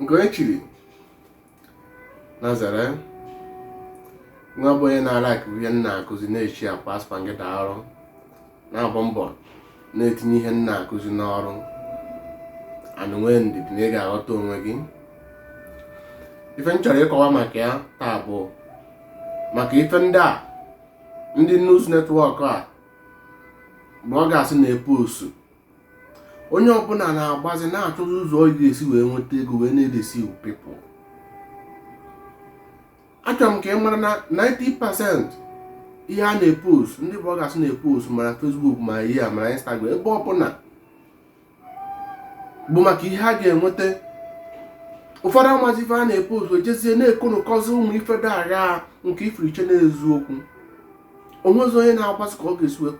nke e chiri nazare nwa bụ onye na-alike ihe m na-akụzi na-esharekwa aspa gị da ọrụ na-agba mbọ na-etinye ihe m na-akụzi n'ọrụ and nwee ndidi na ị ga-aghọta onwe gị ife m chọrọ ịkọwa maka ya taa bụ maka ife ndị a ndị news network a bloggers na-epost onye ọbụla na-agbazi na-achọzi ụzọ ọ ga-esi wee nweta ego wee na-edeceive people achọrọ m ka ị mara na 90% ihe a na-epost ndị bloggers na-epost ma na Facebook ma ihe a ma na Instagram ebe ọbụla bụ maka ihe a ga-enweta ụfọdụ amazi ife a na-epost ejezie na-ekonụkọzi ụmụ ife dị agha nke ị fụrụ i chee na eziokwu onwezi onye na-agbazi ka ọ ga-esi wee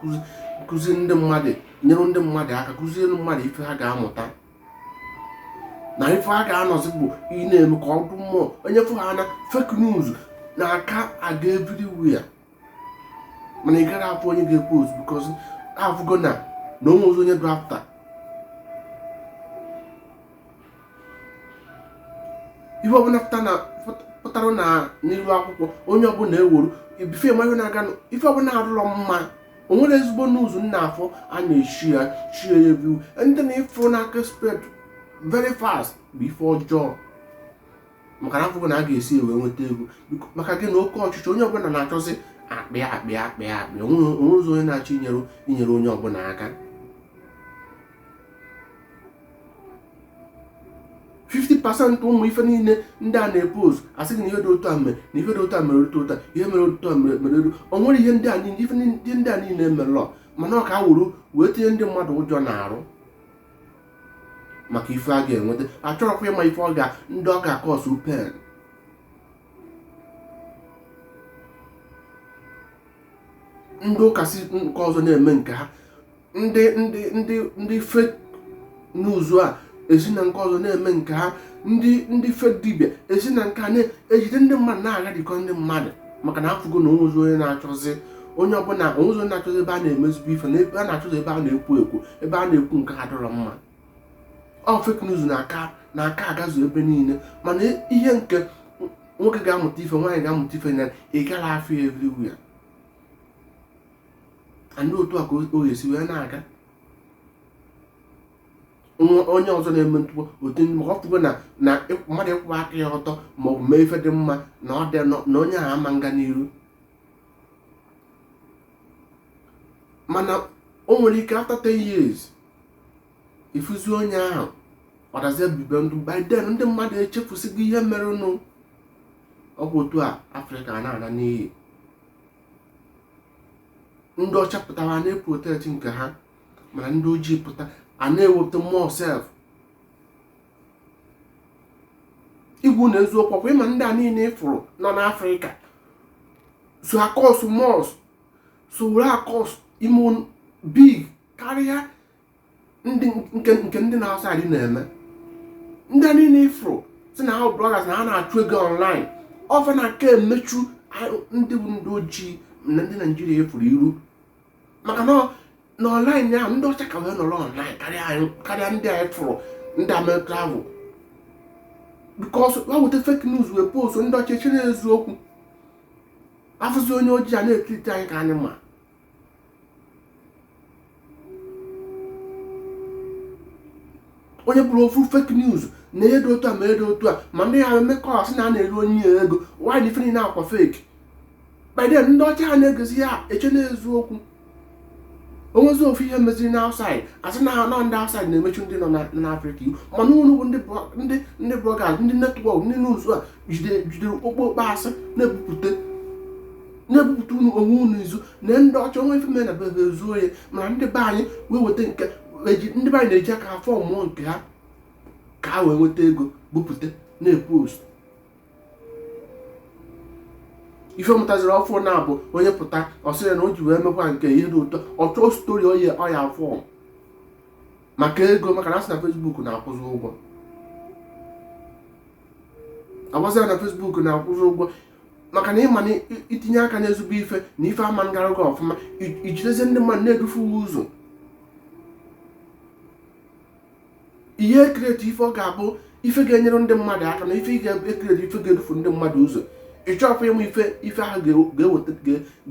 kụzi ndị mmadụ nyere ndị mmadụ aka kụziere mmadụ ife ha ga-amụta na ife ha ga-anọzi bụ ị na-eme ka ọ dụ mmụọ onye fụ ha na fake news na-aka aga everywhere mana ị gaghị afụ onye ga-epost because afụgo na na onwezi onye dị after ihe ọbụla pụtara na n'iru akwụkwọ onye ọbụla ewuru ibife ma ihe na-aga ife ọbụla adụrọ mma o nwerọ ezigbo news ị na-afụ a na-eshare share everywhere ndị na ị fụ na-aka espread very fast bụ ife ọjọọ maka na afụgo na a ga-esi e wee nweta ego maka gịnị oke ọchịchọ onye ọbụla na-achọzi akpa ya akpa ya akpa ya akpa ya onwezi onye na-achọ inyere inyere onye ọbụla aka 50 percent ụmụ ife niile ndị a na-epost asị gị na ihe dị otu a mere na ihe dị otu a mere otu ụta ihe mere otu a mere mere elu o nwere ihe ndị a niile ife ndị ndị a niile emerọ mana ọ ka e wuru wee tinye ndị mmadụ ụjọ n'arụ maka ife a ga-enweta achọrọkwa ịma ife ọ ga ndị ọ ga-acause pain ndị ụka si nke ọzọ na-eme nke ha ndị ndị ndị ndị fake news a esi na nke ọzọ na-eme nke ha ndị ndị fake dibia esi na nke a na-ejide ndị mmadụ na-agharịkọ ndị mmadụ maka na afụgo na onwezi onye na-achọzi onye ọbụla onwezi onye na-achọzi ebe a na-eme ezigbo ife na ebe a na-achọzi ebe a na-ekwu ekwu ebe a na-ekwu nke adụrọ mma ọ fake news na-aka na-aka agazu ebe niile mana ihe nke nwoke ga-amụta ife nwaanyị ga-amụta ife na ị gaghị afụ everywhere and otu a ka o ga-esi wee na-aga onye ọzọ na-eme ntụpọ otu ndị maka ọ fụgo na na mmadụ ịkwụba aka ya ọtọ ma ọ bụ mee ife dị mma na onye ahụ ama nga n'iru mana o nwere ike after 10 years ị fụzie onye ahụ ọ dazie bibe ndụ by then ndị mmadụ echefusigo ihe merenụ ọ bụ otu a afrịka na-ana n'iyi ndị ọcha pụta ha na-eprotect nke ha mana ndị ojii pụta a na-ewepụta mmụọ self igwu na eziokwu ọ kwa ị ma ndị a niile ị fụrụ nọ n'afrịka so akọs mọs so were akọs imo big karịa ndị nke nke ndị na-asa adị na-eme ndị niile ị fụrụ sị na ha bloggers na ha na-achụ ego online ọ fa na-aka emechu ndị bụ ndị ojii na ndị naijiria efuru iru maka na na online ahụ ndị ọcha ka wee nọrọ online karịa ndị anyị fụrụ ndị amerịka ahụ because ha weta fake news wee post ndị ọcha eche na eziokwu a fụzi onye ojii a na-etreat anyị ka animal onye buru ofu fake news na ihe dị otu a ma ihe dị otu a ma ndị ya mmekọrọ sị na a na-eru onye ya ego wanyị ife niile akwa fake by then ndị ọcha ha na-egezi ya eche na eziokwu o nwezi ofu ihe meziri na outside a sị na ha nọ ndị outside na-emechu ndị nọ n'afrịka iru mana unu bụ ndị bloggers ndị network ndị news a jidere jidere okpokpo asị na-ebupụta na-ebupụta unu onwe unu izu na ndị ọcha o nwee ife mere na be be ezoo ya mana ndị be anyị wee weta nke eji- ndị be anyị na-eji aka ha formụọ nke ha ka ha wee nweta ego bupụta na-epost ife mụtaziri ọfụụ na-abụ onye pụta ọ sị ya na o ji wee mekwa nke ihe dị ụtọ ọ chọọ story ọ ya-aform maka ego maka na a sị na facebook na-akwụzi ụgwọ a gwazi ya na facebook na-akwụzi ụgwọ maka na ị ma na i tinye aka n'ezigbo ife na ife ama ngara gị ọfụma i jidezi ndị mmadụ na-edufu ụzọ ị ya-ecreate ife ọ ga-abụ ife ga-enyere ndị mmadụ aka na ife ị ga-ecreate ife ga-edufu ndị mmadụ ụzọ ị chọrọ ịma ife ife ahụ ga-eweta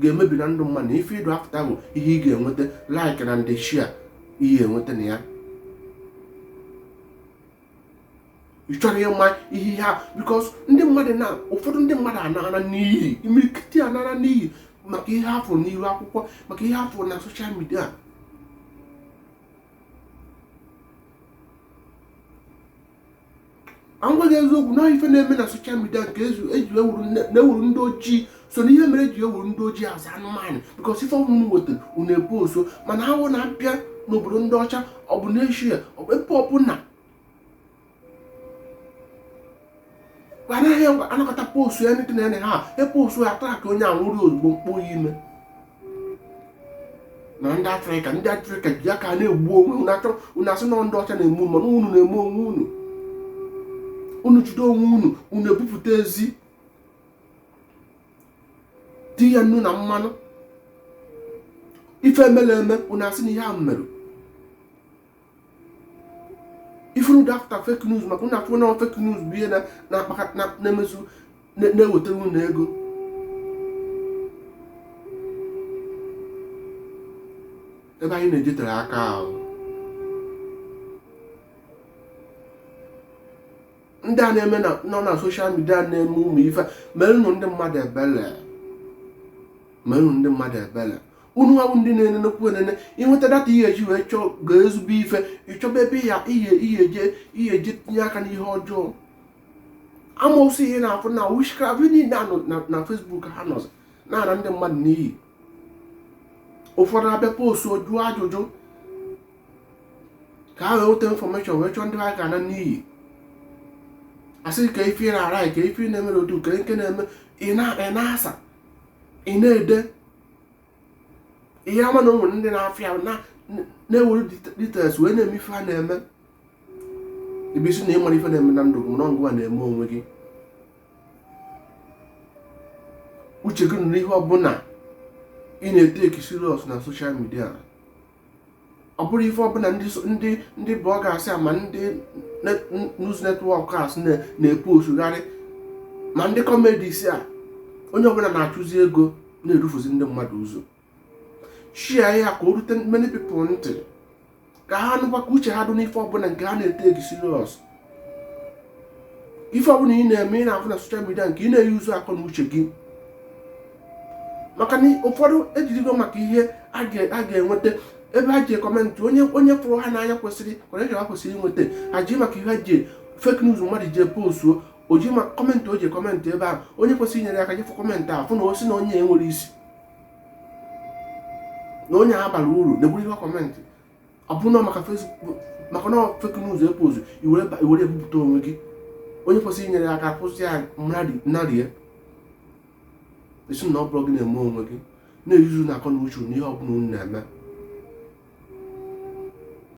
ga-emebi na ndụ mmadụ na ife ị dị after bụ ihe ị ga-enweta like na ndị share ị ya-enweta na ya ị chọrọ ịma ihe ihe ahụ because ndị mmadụ na ụfọdụ ndị mmadụ anaana n'iyi imirikiti anaana n'iyi maka ihe ha fụrụ n'iru akwụkwọ maka ihe ha fụrụ na social media ka m gwa gị eziokwu na ife na-eme na social media nke eji ewuru ndị ojii so na ihe mere eji ewere ndị ojii as anụmanụ bikos ife ọbụla unu wetara unu ebu oso mana ọ wụ na abịa n'obodo ndị ọcha ọ bụ n'eshia ebe ọbụla anaghị anakọta postu ya ndị na ha epostu ya taa ka onye a nwụrụ ozugbo mkpọ ya ime na ndị afrịka ndị afrịka ji aka na-egbu onwe unu asị na ndị ọcha na-eme mana unu na-eme onwe unu unu jide onwe unu unu ebupụta ezi tinye nnu na mmanụ ife mele eme unu asị na ihe ahụ emerọ ifuru dị afta fake news maka unu afụ na fake news bụ ihe na-emezi na-ewetara unu ego ebe anyị na-ejetere aka ahụ ndị a na-eme nọ na soshal midia na-eme ụmụ ife merenụ ndị mmadụ ebele merenụ ndị mmadụ ebele unu ahụ ndị na-enenekwu enene ị nweta data ihe eji wee chọọ ga ezigbo ife ị chọba ebe ị ya-eji tinye aka n'ihe ọjọọ amosu ị na-afụ na witchcraft niile nọ na Facebook ha nọzi na-ana ndị mmadụ n'iyi ụfọdụ abịa postu jụọ ajụjụ ka ha wee nweta infọmeshọn wee chọọ ndị ha ga-ana n'iyi asị kee ife ị na-arụ kee ife ị na-eme otu ka nke na-eme ị na-asa ị na-ede ihe ama na ụmụ ndị mafịa na-ewere details wee na-eme ife ha na-eme ebe ị sị na ị marọ ife na-eme na ndụ gị na ọ ngịwa na-eme onwe gị uche gị dụrụ n'ihe ọbụla ị na-eteki serious na soshal midia ọ bụrụ ife ọbụla ndị ndị bloggers ma ndị news networkers na-eposugharị ma ndị comedies a onye ọbụla na-achụzi ego na-edufuzi ndị mmadụ ụzọ share ya ka o rute many people ntị ka ha nụkwa ka uche ha dụ n'ife ọbụla nke ha na-eteki serious ife ọbụla ị na-eme ị na-afụ na soshal midia ka ị na-eyuzu akọ na uche gị maka na ụfọdụ ejirigo maka ihe ha ga-enweta ebe ha ji kọmentị onye onye fụrụ ha n'anya kwesịrị encourage ha kwesịrị inweta ha ji maka ihe ha ji fake news mmadụ ji postuo o ji maka kọmentị o ji kọmentị ebe ahụ onye kwesịrị inyere aka jee fụ kọmentị ahụ fụ na o si na onye a enwerọ isi na onye a abarọ uru na-egburu ihe kọmentị ọ bụ na maka Facebook maka na fake news ị posu i were ebupụta onwe gị onye kwesịrị inyere aka kwụsị ya narie ị sị na ọ bụrụ gị na-eme onwe gị na-eyuzunụ akọ na uche n'ihe ọbụla unu na-eme